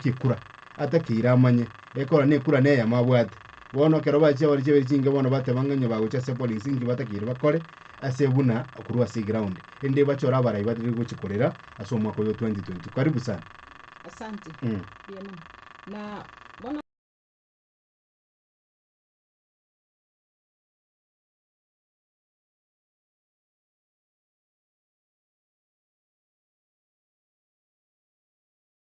chikura, atakeire amanye ekora nekura neyemo abwate. Bono ekero bachia bare chiabere chinke bono bateba ng'a onye bagochia ase polisi inki batakeire bakore ase buna korwa ase eground. Rende bachore abarai barire gochia korera ase omwaka oyo 2022. Karibu sana. Asante. Mm. Mbuya mono. Na bono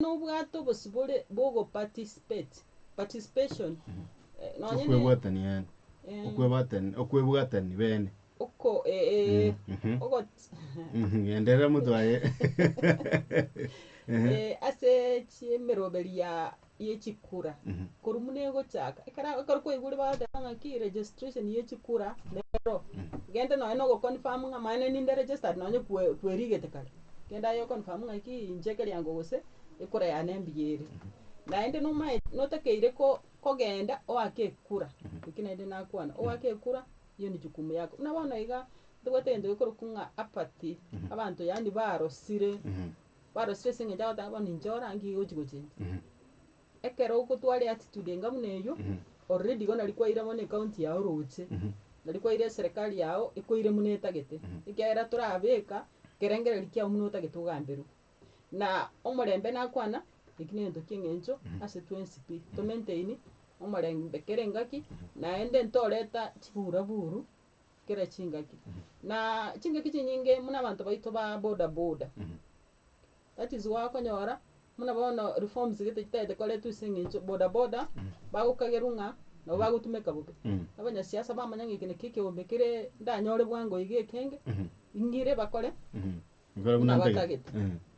Nobwate obosibore bw'ogoparticipate, participation, nonya ne. Okwebwatania, okwebwatani bene. Oko, eeh, ogot. Enderera motwe aye. Eeh, ase chiemeroberi ya ye chikura korwa muna egochaka ekero ekero kwaigure bagoteba ng'aki registration ye chikura nero genda nonya na ogoconfirm ng'a manye nere ninde registered nonya kwe kwerigete kare genda aye oconfirm ng'aki inche ekeriango gose ekura yane mbuya ere naende nomae notakeire ko kogenda oake ekura eki naende nakwana oake ekura eyo ne jukumu yako buna bono iga ntobwate egento gekorokwa ng'a apathy abanto yaani barosire Barosirie ase engencho agoteba bono inche ora nki gochi gochencha. Ekero ogotwara eattitude enga buna eyio, already igo nari kwaira bono ecounty yao roche, nari kwaira eserekari yao ekoire buna etagete, ekiagera torabeka ekerengereri kiao buna otagete ogamberwa. Na omorembe nakwana, eki negento kia eng'encho ase twensi pi, to maintain omorembe kera engaki, naende ntoreta chibura buru kera chingaki. Na chingaki chinyinge buna abanto baito ba boda boda, that is why okonyora buna bono reforms gete chitagete koretwa ase eng'encho boda boda bagokagerwa ng'a nabo bagotumeka bobe. Abanyasiasa bamanya ng'a eke nakio ekeombe kere ndanyore bwango iga ekenge, ng'ire bakore. nabatagete.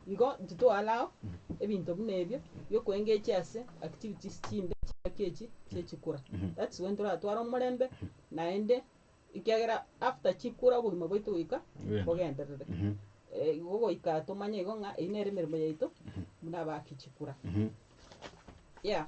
Igo ntitoarao ebinto buna ebio biokoengechia ase activities chimbe chingaki echi chia chikura. That's when toratware omorembe naende ekiagera after chikura obogima bwaito goika bogenderere. Igo goika tomanye igo ng'a eyio nere emeremo yaito buna abaki chikura. Yeah.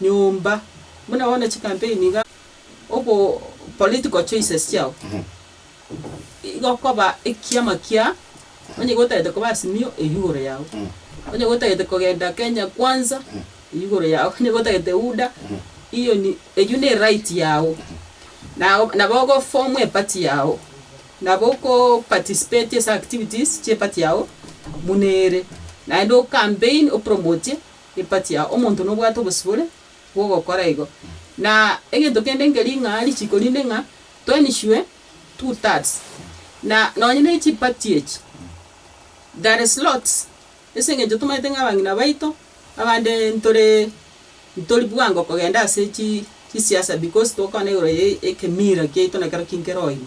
nyomba buna bono chikampeni iga ogo political choices chiao igokoba ekiama kia onye gotagete koba Azimio eywo igoro yao onye gotagete kogenda Kenya kwanza eywo igoro yao onye gotagete UDA iyo ni eywo ne right yao nao nabo ogo form a party yao nabo oko participate ase activities chie party yao buna ere naende o campaign o promote. Epatia, omonto nobwate obosibore bw'ogokora igo. Na egento kende nkeri ng'a richiko rinde ng'a twainishwe two thirds. Na nonye ne chipati echi, there is lots, ase eng'encho tomaete ng'a abang'ina baito, abande ntore ntori bwango kogenda ase chi chisiasa because tokogana igoro ya ekemira kiaito na ekero kinkere oino.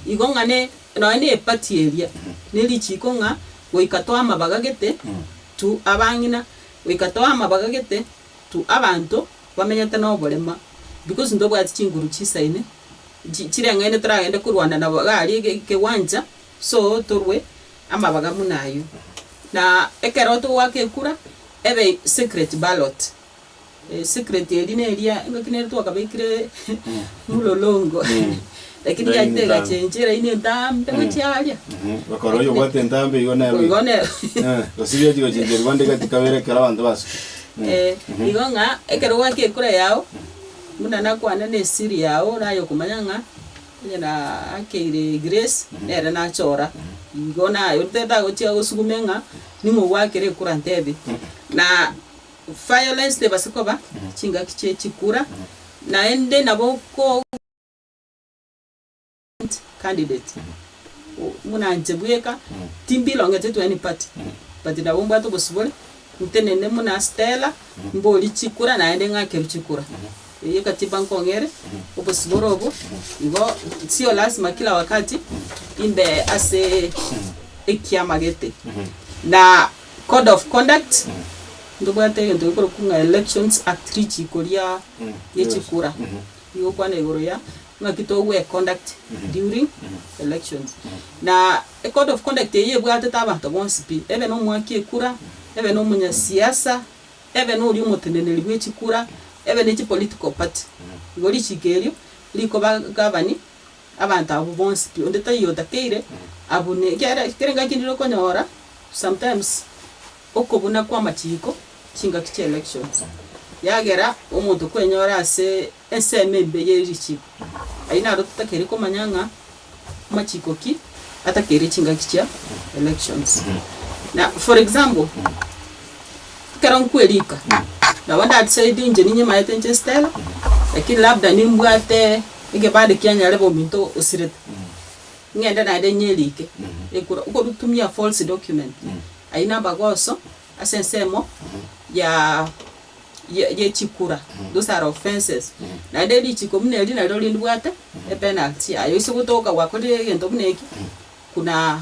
Igo ng'a ne. Nonya nepati eria nerichiiko ng'a goika toamabagagete tu abang'ina, goika toamabagagete tu abanto bamenyete noborema, because ntobwati chinguru chisaine, chireng'aine toragende korwana nabo iga aria ekegwancha, so torwe amabaga buna ayio. Na ekero togoaka ekura, ebe secret ballot. Secret eria neria engaki nere twakabekire mulolongo lakini Line yachire ntambe. egachenchia eraini entambe gochia aria. Gokora oyo obwate entambe igo nero iga. Igo nero. Eh, gose riachi gochenchia rigo ande gati kabere ekero abanto basuki. Eh, igo ng'a ekero gwake ekura yao, buna nakwane na esiri yao oraye okomanya ng'a onye nakeire Grace nere nachora. Igo naye tatagochia gosugume ng'a ning'o gwakire ekura ntebie. Na. Violence tebase koba chingaki chie chikura naende nabo kogoka independent candidate buna inche bweka timbilongete to any party but nabo mbwate obosibore ntenene buna Stella mbori chikura naende ng'akerwe chikura eyio katiba nkong'ere obosibore obo igo sio lasima kila wakati imbe ase ekiama gete na. Code of conduct, ntobwate egento gekorokwa ng'a elections act richiiko ria riechikura, rigokwana igoro ya ng'aki togwe econduct during elections. Na ecode of conduct eyio ebwatete abanto bonsi pi, ebe na omwaki ekura, ebe na omonyasiasa, ebe na oria omoteneneri bw'echikura, ebe na echipolitical party. Igo richiiko erio rikoba gabani. Abanto abwo bonsi pi, onde taiyo otakeire, abwo ne kera kera engaki ndire okonyora, sometimes okobuna kwa amachiko, chingaki chia election, yagera omonto kwenyora ase ensemo embe ye richiko, ayio naro totakeire komanya ng'a amachiko ki, atakeire chingaki chia elections. Na for example, Ekero nkwe riko, nabo nda decide inche ninye maete inche Stella, lakini labda nimbwate ekebande kia nyare bobe ominto osirete, ng'ende naende inye erike, ekura, okorutumia false document, ayio namagoso ase ensemo ya ya chikura, those are offences, naende richiko buna eri nario rindibwate epenalty yaye, ase gotoka gwakorire egento buna eki, kuna.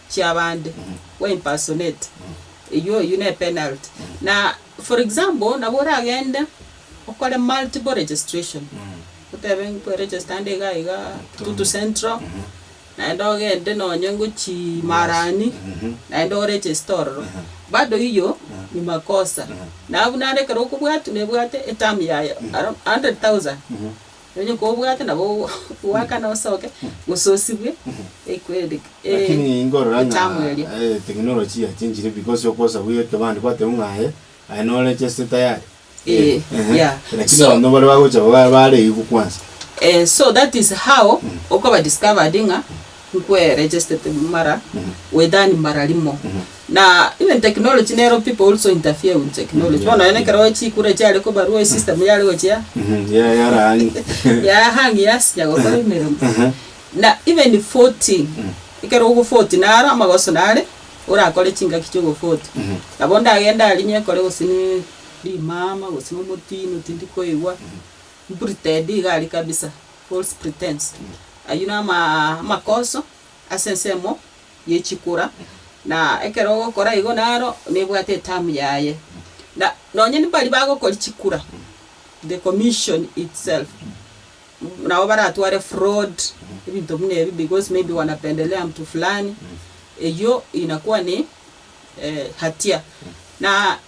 chiabande we impersonate eyio eyio ne penalty na for example nabo oragende okore multiple registration otebe nkwe register nde iga iga kitutu central naende ogende nonye ngochii marani naende o register ororo bado eyio ni makosa nabu naende ekero okobwatwa nebwate eterm yaye hundred thousand Onye kobwate nabo goakana osoke, gose osibwe equed Lakini e inkorora ng'a etamu eria. e technology ya chenchire because okosabua ekebande kwateba ng'a aye aye norecheste tayari. Ee, Eeh, yeah. Lakini So- abanto baria bagocha ba- bareigwe kwansa. Eh, so that is how okoba discovered ng'a nkwe registered mara withani mara rimo na even technology nero people also interfere with technology bono nonye ekero chikura chiare kobarwa e system yare gochia Yeah, yarahang. ya hang yasinya gokora emeremo na even voting ekero ogo vote naro amagoso nare orakore chingaki chia ogo vote nabo ndagende aria nyekore gose ne rimama gose ne omotino tindi koigwa mprinted iga aria kabisa. False pretense, Ayio namakoso ase ensemo yechikura, na ekero ogokora igo naro nebwate etamu yaye. Na nonye mbari bagokori chikura, the commission itself, nabo baratware fraud, ebinto buna ebio because maybe wanapendelea mtu fulani, eyio inakua ni hatia. Na.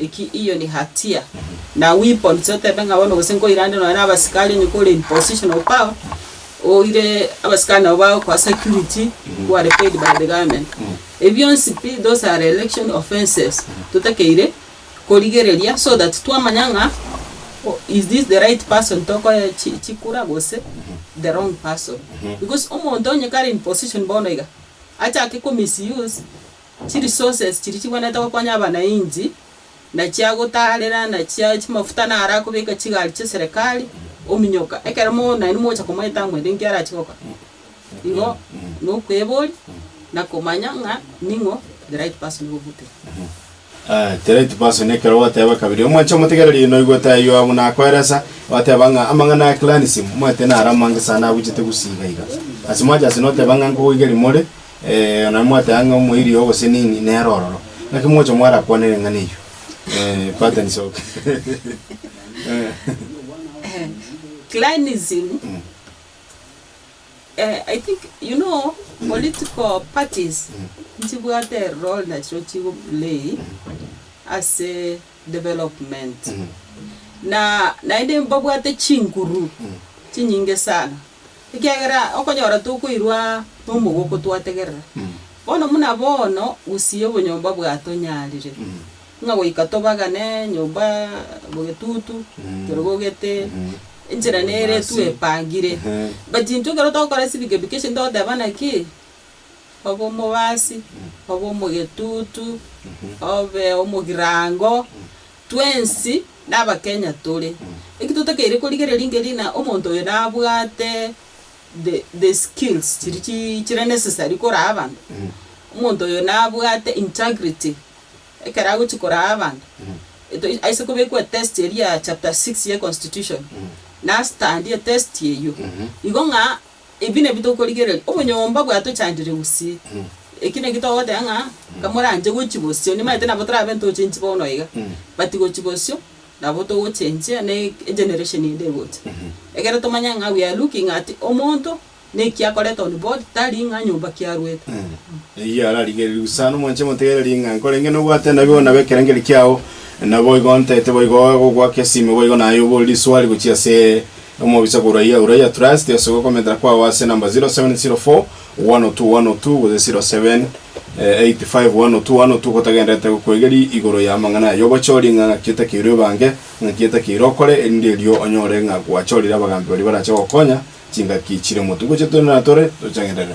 Eki iyo ni hatia. Na weapon sia oteete ng'a bono gose nkoirande nonya na abasikari onye kore in position of power, oire abasikari nabo bagokoa security who are paid by the government. Ebi bionsi pi those are election offences totakeire korigereria so that twamanya ng'a is this the right person tokoe chi chikura gose the wrong person. Because omonto onye kare in position bono iga, achake ko misuse. Chi resources chiria chigwenerete gokonya abanainchi na chia gotaarera na chia chimafuta naro akobeka chigari chia serikali ominyoka ekero nainwe mogocha komoeta ng'ende inki arachie gokora. Igo nokweboria na komanya ng'a ning'o the right person ogogutebia. The right person ekero ogoteba kabere omwanche omotegererie noigwete ayio abwo nakoeresa oteba ng'a amang'ana ya clanism omanyete naro amange sana abuchete gusii iga iga. Ase mwanche ase noteba ng'a nkogoigeria more Onye mwateba ng'a omoerio obosenini nere ororo, naki mogocha mwarakwane ring'ana eyio? Patterns of Clanism, I think you know political parties nchibwate erole nachirochio chigo play ase development. Na naende mbabwate chinguru chinyinge sana. ekiagera okonyora tokoirwa nomogoko twategerera. Bono buna bono gusii obonyomba bwatonyarire, ng'a goika tobagane nyomba bogetutu, torogogete, enchera nere twepangire. But intwe ekero togokora civic education togotebana ki? Obe omobasi, obe omogetutu, obe omogirango. Twensi nabakenya tore. Eki totakeire korigereria ngeri na omonto oyo nabwate the the skills chiri chi chire necessary koraa abanto. Omonto oyo nabwate integrity ekero agochia koraa abanto. Etois aise kobekwa etest eria ya chapter six ye constitution. Nastandi etesti eyio. Igo ng'a Ebi nabio tokorigereria, obonyomba bwatochandire gose. Eki nakio togoteba ng'a kamoranche gochia bosio, nimanyete nabo torabe ntochenchi bono iga, but gochia bosio nabo togochenchia ne egeneration ende egocha. Ekero tomanya ng'a we are looking at omonto na eki akorete on board tari ng'a nyomba ki arwete. Eyio ararigereria gose sana omwanche motegereri ng'a nkorenge nobwate nabi bono nabo ekerengeri kiao, naboigo ontete boigo gogoaka esime boigo naye oboriri swali gochia ase. Omobisa korwa Iya Uraia Trust ase ogokomentera kwao ase number 0704-102-102-0785-102-102 gotagenderete gokoegeri igoro ya amang'ana aya obochori ng'a ng'aki etakeirwe ebange, ng'aki etakeirwe okore, erinde erio onyore ng'a gwachorire abagambi baria barache gokonya chingaki chire motu. Ngochia tore na tore tochagenderere.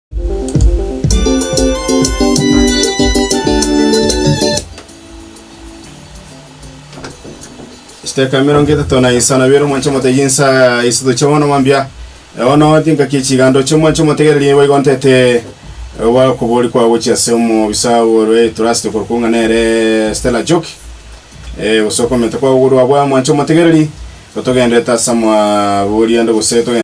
Chitaka emerongo etato na isano bere omwanche motegi nsa isato chia bono mambia ono tinkaki chigando chia omwanche motegereri nigo igontete oba okobori kwa gochia ase omobisa ore trust korokwo ng'a nere Stella Joki eh gose okomenta kwa gokwa mwanche motegereri gotogenderete ase amabori ande gose togen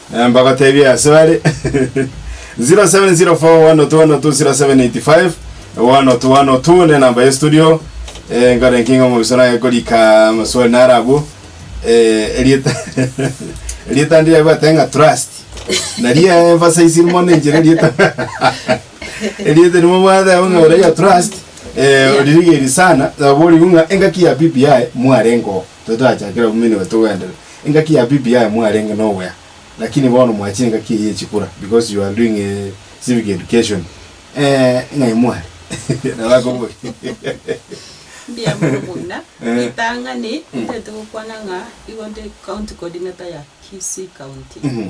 Mbagoteebie ase bare, 0704120785 102 102 nenamba ye studio, nkore ki ng'a omoguso naye korika amaswali naro abwo, erieta erieta ndire bwate ng'a trust, naria emphasize mono enchera erieta erieta eri mobwate abwo ng'a ore ya trust, oririgeri sana, nabo oriwu ng'a engaki ya BBI mwarenge oo. Totachakera buna nigo togoenderera. Engaki ya bibi yaye mwarenge noboya, lakini bono mwachire engaki eye yechikura because you are doing a civic education. Eeh ng'ai mware? Nabo akoboria. Mbuya mono buna. Eh. Ritang'ani, ntaete gokwana ng'a igo nde County Coordinator ya Kisii County. Mhm.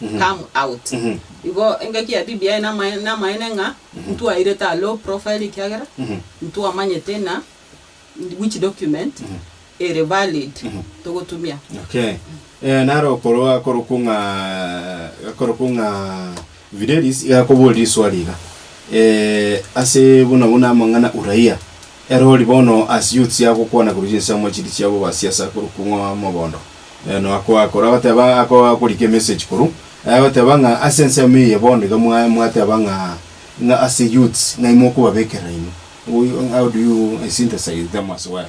come out. Igo engaki ya BBI namae- namaene ng'a ntwairete a low profile ekiagera ntwamanyete na which document ere valid togotumia. Okay. Eh, naro okorwa akorokwo ng'a akorokwo ng'a Fidelis iga akoboria eriswali iga, eh, ase buna buna amang'ana uraia. Ere ori bono asio otsie agokwana korwa chinsemo chiria chia bobasiasa korwa kung'o mogondo. Noakoa korwa agoteba akoa akorika emessage korwa agoteba ng'a ase ensemo eye bono iga mwa mwateba ng'a ng'a ase youths ng'ai mokobabekerera inwe. How do you synthesize them as well?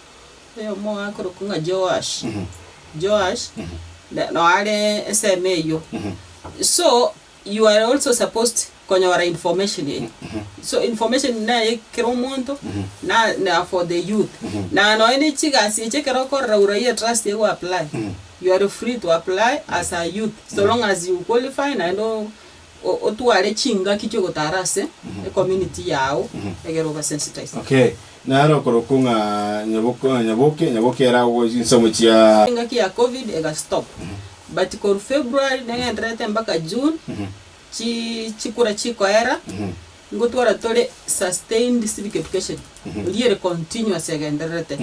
Oyomo akorokwa ng'a Joash, Joash, ne- no are esemo eyio. So, you are also supposed konyora information eye. So information neye kera omonto, na- na for the youth. Na nonya ne chigasi echi ekero okorora orai etrust eye goapply, you are free to apply as a youth, so long as you qualify naende o- o- otware chingaki chi'ogotaara ase ecommunity yao egere obe sensitized. Okay, naro okorokwo ng'a nyaboke, nyaboke, nyaboke ere agwo chinsamu chia. Engaki ya covid ega stop but korwa February negendererete mpaka June chi chikura chikoera ngotwara tore sustained civic education eria ere continuous egendererete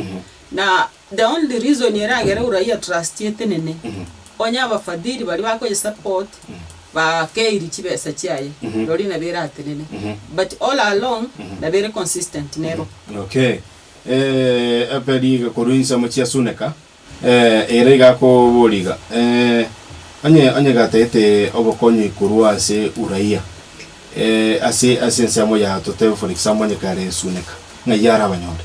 na The only reason eragere uraia trust etenene onye abafadhili baria bakoye support bakeiri chibesa chiaye roria nabo eratenene but all along nabo ere consistent nero. Okay. Eh, epe riga korwa insemo chia suneka. Eh, ere iga akobori iga, eh, onye, onye gatagete obokong'yi korwa ase uraia, eh, ase, ase ensemo yao totebe for example onye kare suneka, ng'ai arabanyore?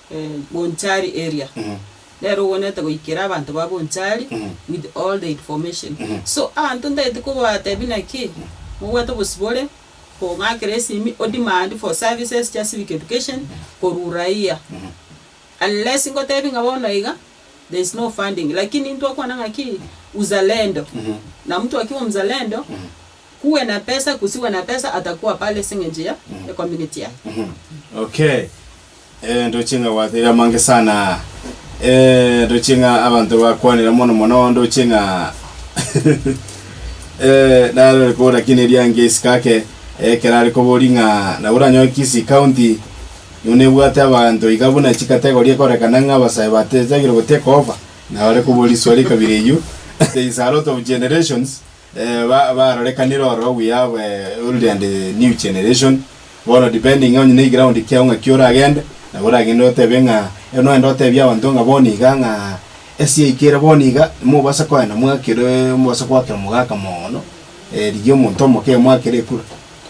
Bonchari area nero ogwenerete goikera abanto ba Bonchari with all the information so abanto ntagete kobatebia naki mobwate obosibore kong'akera esimi odemand for services chia civic education korwa uraia unless ngotebie ng'a bono iga there is no funding lakini ntwakwana ng'aki uzalendo na mtu akiwa mzalendo Kuwe na pesa kusiwe na pesa atakuwa pale ase engencho ya ecommunity yaye. Okay. Eh, ndoche ng'a gwateire amange sana aa. Eh, ndoche ng'a abanto bakwanera mono mono, ndoche ng'a eh, narore kobora ki ne riange isiko ake, ekero are kobori ng'a nabo oranyore Kisii County, nigo nebwate abanto iga buna chikategori ekorekana ng'a abasae batetaigire gotekoba, naro are kobori swali ekabira eyio, since a lot of generations, barorekanire ore obuya bwe old and new generation. Bono depending onye ne eground kiao ng'aki oragende, nabo oragende otebe ng'a erio nogende otebie abanto ng'a bono iga ng'a esi yaika ere bono iga, mobasa kogenda mwakere mobasa goakera mogaka moono, rigia omonto omoke mwakere ekura.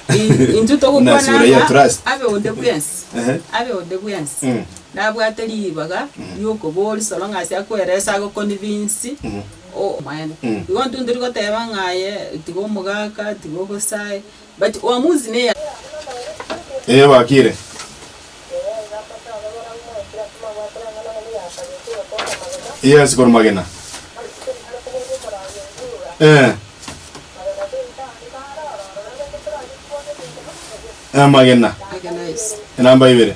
I- intwe togokwana Buna sura hiyo ng'a trust. abe onde bwensi, Ehe. abe onde bwensi Mm. nabwate ribaga riokoboria soro ng'a ase akoeresa ago convince omoedo. Igo intwe ntori goteba ng'a aye tiga omogaka, tiga obosae, but uamuzi neye. Ee bakire. Yes kor magena. Ee. Ee magena. Magena yes. Enamba ibere.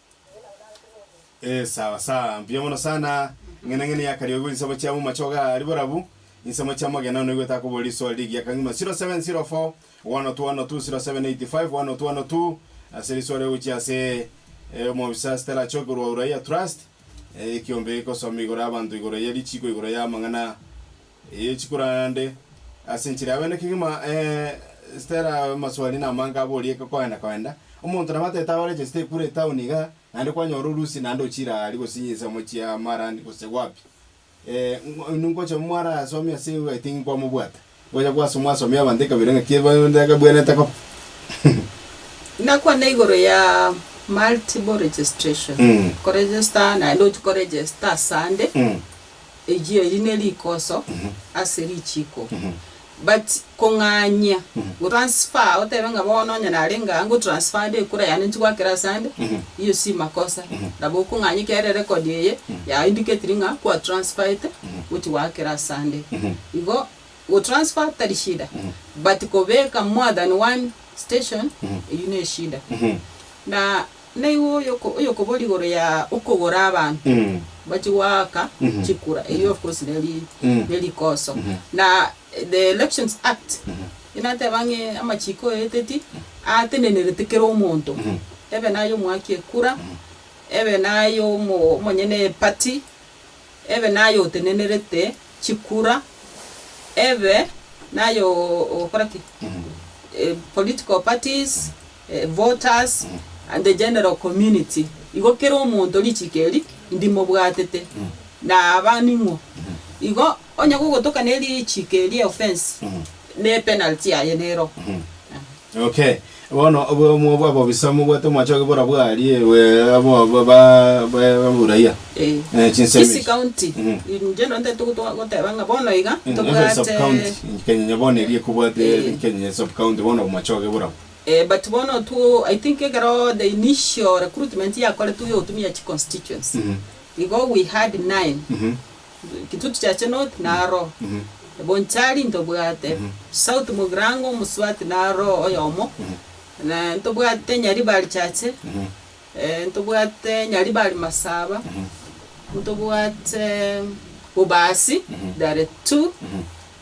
Eh, sawa sawa mbuya mono sana ng'ene ng'ene yakarioigwa insemo chia mumachoga ari borabu insemo chia mogena noigwe takobori iswali rigiya kang'ima 0704 102 102 0785 102 102 ase riswali ogochia ase eh, omobisa Stella Choki korwa Uraia Trust eh, ekiombe gikosoma igoro ya abanto igoro ya richiko igoro ya amang'ana Ee, chikorana nde ase enchera yawe. Naki kegima Stella amaswali namange aborie gokoenda koenda. Omonto nabo atete abe register kure etown iga, naende kwanyora orusi naende ochire aa aria gose inse mochie aa marani gose wapi. ngocha mwarasomia ase eyi I think kwamobwata. Ngocha kwasa mwasomia abanto ekabira ng'aki etabwenerete koba. Ndakwane igoro ya multiple registration. Ko register naende ochi ko register asande. eyio eri ne rikoso ase richiiko. But kong'anyia go transfer otebe ng'a bono onye narenge aa ngo transfade ekura yane nchigwakera ase ande, eyio si makosa. Nabo okong'anyia ekiagera ere record eye ya indicatiri ng'a kwa transferete gochia goakera ase ande. Igo go transfer tari shida but kobeka more than one station eyio ne eshida. Na Naiwe oyokoboria igoro ya okogora abanto bachie goaka chikura, erio of course neri nerikoso, na the elections act inateba ng'a amachiko oeteti atenenerete kera omonto, ebe naye omoaki ekura, ebe naye omonyene eparty, ebe naye otenenerete chikura, ebe naye okora ki? political parties. voters, and the general community, igo kera omonto richiko eri ndimobwatete, na aba ning'o. Igo onye gogotoka ne richiko eria eoffence, ne penalty yaye nero. Okay. Bono obwo bwa bobisa mobwate mwachoki bora bwarie we abo ba ba buraia. Eh, Eh, chinsemi. Kisii county, Mhm. in general ntete goto- goteba ng'a bono iga Every sub tobwate county in Kenya bono erie kobwate Eh. Kenya sub county bono mwachoki bora. but bono two I think ekero the initial recruitment yakoretwe ya otumia chi constituency, igo we had nine, Kitutu Chache North naro, Bonchari ntobwate, South Mugirango Omosubati naro oyomo, ntobwate Nyaribari Chache, ntobwate Nyaribari Masaba, ntobwate Bobasi there two,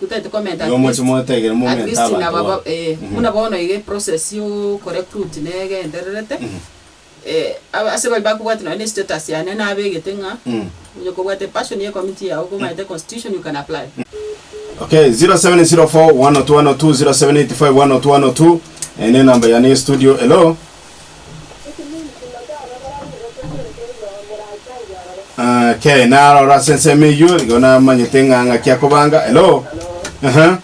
Gotari tokomenta Oyo at moche least moetegere at momente least na abanto babo babo. eh, Mhm. buna bono iga eprocess ya okorecruit na egendererete, Mhm. eh, aba- ase baria bakobwate nonye na estatus yane nabegete ng'a Mm. onye kobwate epassion ya ecommittee yao komanyete constitution you can apply. Okay, 0704 102 102, 0785 102 102, eh, nenamba yane ya estudio, hello. Okay, narora ase ensemo eyio igo namanyete ng'a ng'aki akobanga. Hello. Aha.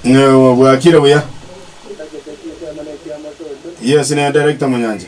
Ng'e obwakire buya. Yes, ne director Munyancha.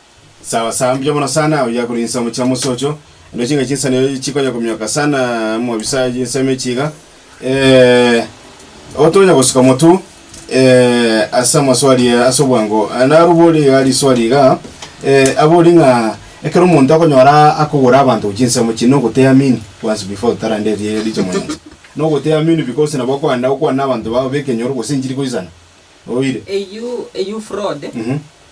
Sawa sawa mbuya mono sana, oyio akorwa inse omochie omosocho, ande chingaki chinsani chikonya komioka sana mo bisa insemi echi iga. otonya gosuka motu ase amaswali aa ase obwango, narubori iga riswali iga, abori ng'a ekero omonto akonyora akogora abanto gochia inse omochie na ogoteamini kwanza before totarande eri richamu eri, na ogoteamini because nabo okogenda gokwana na abanto bao b'ekenyoro gose enchiri goisana, oire. Eyio eyio fraud.